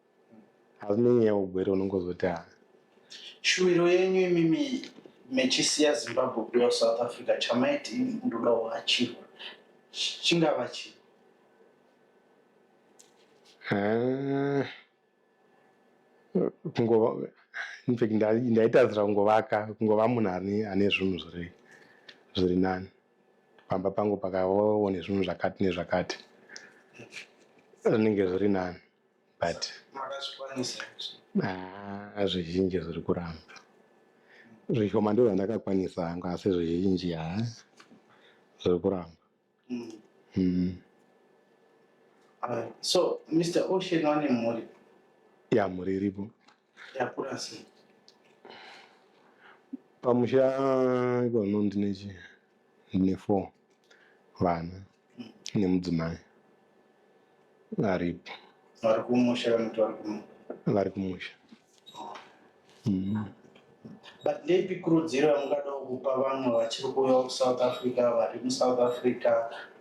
hazvinei nyaya ugwere unongozoti ha shuwiro yenyu imimi mechisiya zimbabwe kuuya south africa chamaiti ini ndoda kuachirwa chingava chii Ah. kungova infact nda- ndaitadzira kungovaka kungova munhu ane ane zvinhu zviri zviri nani pamba pangu pakavawo nezvinhu zvakati nezvakati zvinenge zviri nani but ah, zvizhinji zviri kuramba zvishoma ndo zvandakakwanisa hangu asi zvizhinji ha ah, zviri kuramba mm. Mm. Uh, so mr ocean wane mhuri ya mhuri iripo Yakura sei? Pamusha ipano ndine chi ndine four vana nemudzimai varipo Vari kumusha vanoti vari kuno. vari kumusha. Mm. But ndeipi kurudziro yamungadawo kupa vamwe vachiri kuuyawo kuSouth Africa, vari muSouth Africa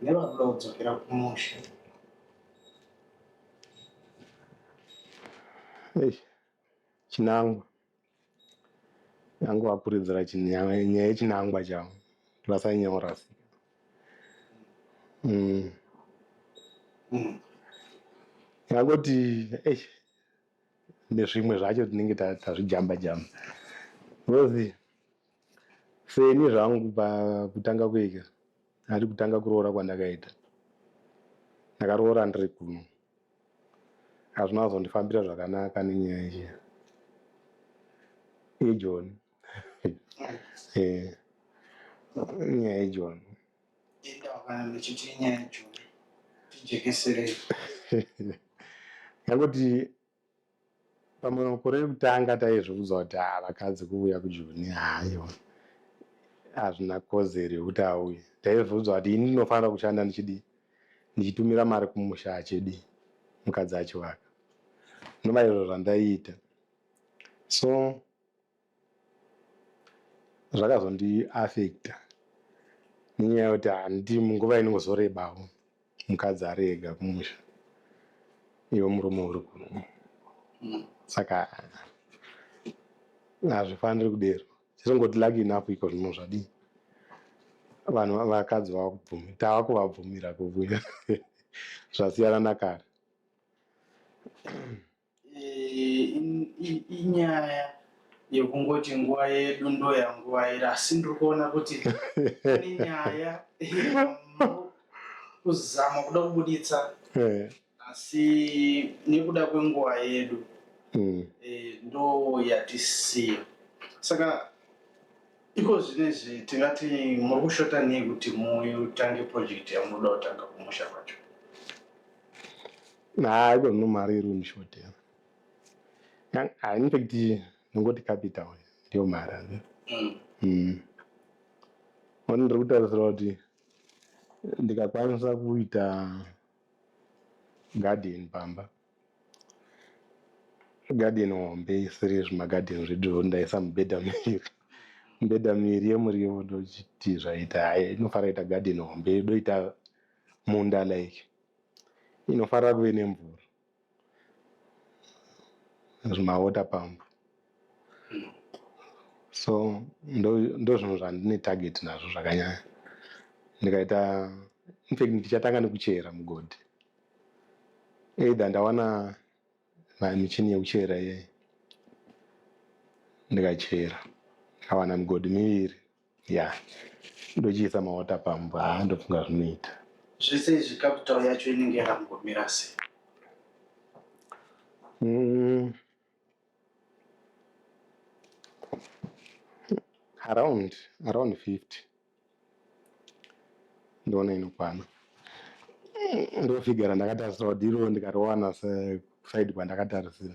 nevari kuda kudzokera kumusha? Eish, chinangwa yangu apuridzira chinya- nyaya yechinangwa chavo ndivasanyora sika mm. yangoti eish, nezvimwe zvacho tinenge ta- tazvijamba jamba ngozi Seni zvangu kubva kutanga kuika ari kutanga kuroora kwandakaita ndakaroora ndiri kuno hazvina kuzondifambira zvakanaka nenyaya iye ijon eh, nyaya ijon yangoti Pamwe makore ekutanga taizviudza kuti haa vakadzi kuuya kujoni haiwa hazvina kodzero yekuti auye. Taizviudza kuti ini ndinofanira kushanda ndichidii ndichitumira mari kumusha achidii mukadzi achivaka. Zvinova izvo zvandaiita so zvakazondiaffecta nenyaya yekuti handiti nguva inongozorebawo mukadzi ari ega kumusha iwe murume uri kuno saka hazvifaniri kudero chesongoti lucky enough iko zvino zvadii vanhu vakadzi vava kubvumi tava kuvabvumira kuvuya zvasiyana nakare inyaya yekungoti nguva yedu ndoyanguva iri asi ndiri kuona kuti ine nyaya kuzama kuda kubuditsa eh. asi nekuda kwenguva yedu hmm. eh, ndo yatisiya saka iko zvinezvi tingati muri kushota nei kuti mutange project yamunoda kutanga kumusha kwacho Nah, iko no mari iri unishotea. Ah, in fact, ndingoti capital ndiyo mari ane. Mm. Mm. Mani ndiri kutarisira kuti ndikakwanisa kuita garden pamba. Garden hombe isiri zvimagarden zvedu zvondaisa mubhedha miri. Mubhedha miri yemuriwo ndochiti zvaita. Hayi, inofara ita garden hombe, doita munda like. inofanira kuve nemvura zvimawater pump so ndozvinhu zvandine target nazvo zvakanyanya ndikaita infact ndichatanga nekuchera mugodhi either ndawana michini yekuchera iyeyi ndikachera ndikawana migodhi miviri ya ndochiisa mawater pump haa ndofunga zvinoita zvese izvi capital yacho inenge yakangomira sei mm. around around 50 ndoona inokwana ndofigara ndakatarisira kuti iro ndikariwana side kwandakatarisira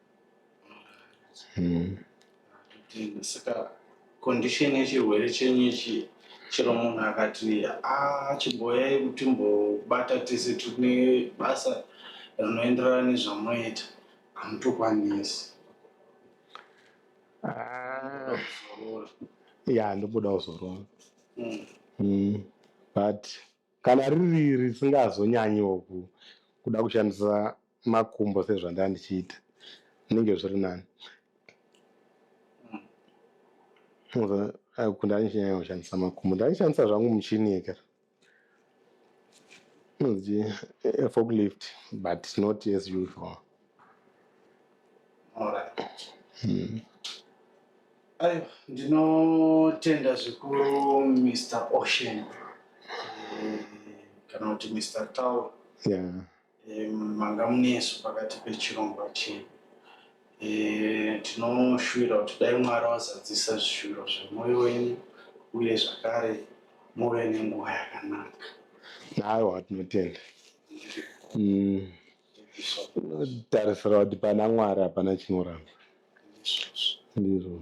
Mm. Tenda saka condition yechirwere chenyu ichi chero munhu akati ah chimboyai kuti mbobata tese tine basa rinoenderana nezvamoita hamutokwanisi Ah, kuzorora ya ndomboda kuzorora Mm. Mm, but kana riri risingazonyanyiwo ku- kuda kushandisa makumbo sezvandaa ndichiita zvinenge zviri nani kuti ndaichinyanya kushandisa makumbo ndaishandisa zvangu muchini yekera inonzi eh, forklift but not as usual hmm. ayo ndinotenda zvikuru mr ocean eh, kana kuti mr tow yeah. manga munesu pakati pechirongwa chenyu e, tinoshuvira kuti dai mwari wazadzisa zvishuviro zvemwoyo wenyu uye zvakare muve nenguva yakanaka aiwa tinotenda mm. tarisira kuti pana mwari hapana chinoramba ndizvo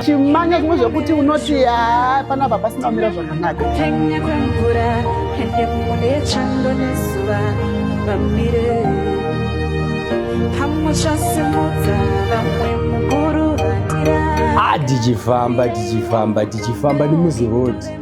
chimanya zvimwe zvekuti unoti haa panapa pasina kumira zvakanaka penya kwemvura ende mune chando nezuva vamire pamuchasimudza vamwe mukuru vatira ah tichifamba tichifamba tichifamba nemuzirodi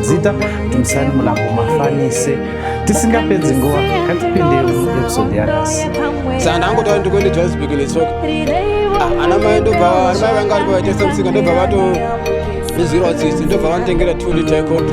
zita timusani mulambo mafanise tisingapedzi nguva katipinderi episode yanasi saka ndangotaura ndikuende johannesburg netsoka ah, ana mai ndobva ana mai vanga vari pavaitesa musika ndobva vato izwirwa tsitsi ndobva vanotengera two liter copi